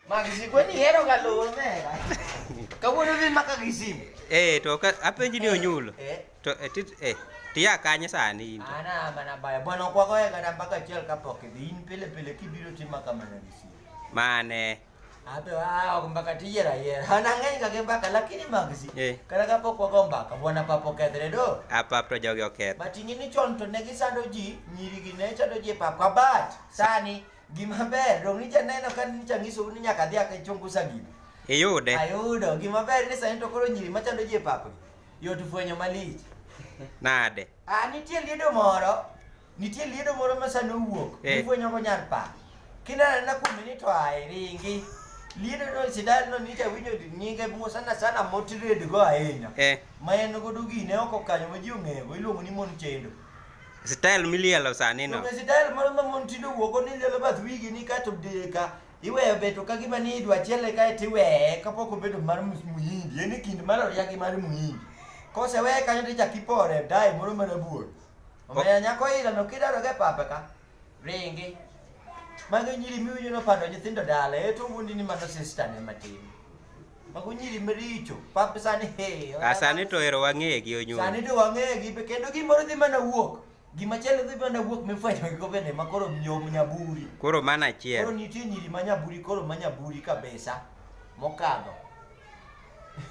Magisip ko ni hero ka lor me. Kawuono dhi ma kagisip. Eh to ka apenji ni onyulo. Eh. To eh, tit eh tiya kanye sani in. to? Ana mana baya. Bwana kwa kwa kana mpaka achiel kapok idhi. In pile pile kibiro tima kama na gisip. Mane. Abe ah mpaka tiyera yera. Hana ng'eny kake mpaka lakini magisip. Eh. Kana kapok kwa kwa mpaka bwana papo kedre do. Apap to jogi oketho. But ing'e ni chon to ne gisando ji, nyirigi ne chando ji e pap kabat. Sani Gima ber, dong' nija neno ka nija nyiso ni nyaka adhi aka chungusa gini. Iyude. Ayudo. Gima ber ni sani to koro nyiri machando ji e papgi. Yot fwenyo malich. Nade? Ah, nitie liedo moro. Nitie liedo moro ma sani owuok. Eh. Ifwenyo go nyar pa. Kinana na kuom ni to ai ringi. Liedo no sidal no nija winjo nyinge mo sana sana motired go ahinya. Eh. Ma en godo gine oko kanyo ma ji ong'eyo. Iluongo ni mon chendo. Style milielo sani no. Be style moro ma mon tindo wuogo ni lielo bath wigi ni kae to deka iweyo beto ka gima ni idwa chiele kae to iweye kapok obedo mar mus- muhindi en e kind mar oria gi mar muhindi koseweye kanyo to ichak ipore dai moro mana buor omiyo nyako ilano kidaroga e papa ka ringi mago nyiri miwinjo nopando nyithindo dala e to wuondi ni mano sistane matin Mago nyiri maricho. Pap sani he. A sani to ero wang'eye gi onyuol. Sani to wang'eye gi kendo gimoro dhi mana wuok. Gima chielo dhi mana wuok mifwenyo gi gobene ma koro nyom nyaburi. Koro mana achiel. Koro nitie nyiri ma nyaburi koro ma nyaburi kabisa mokadho.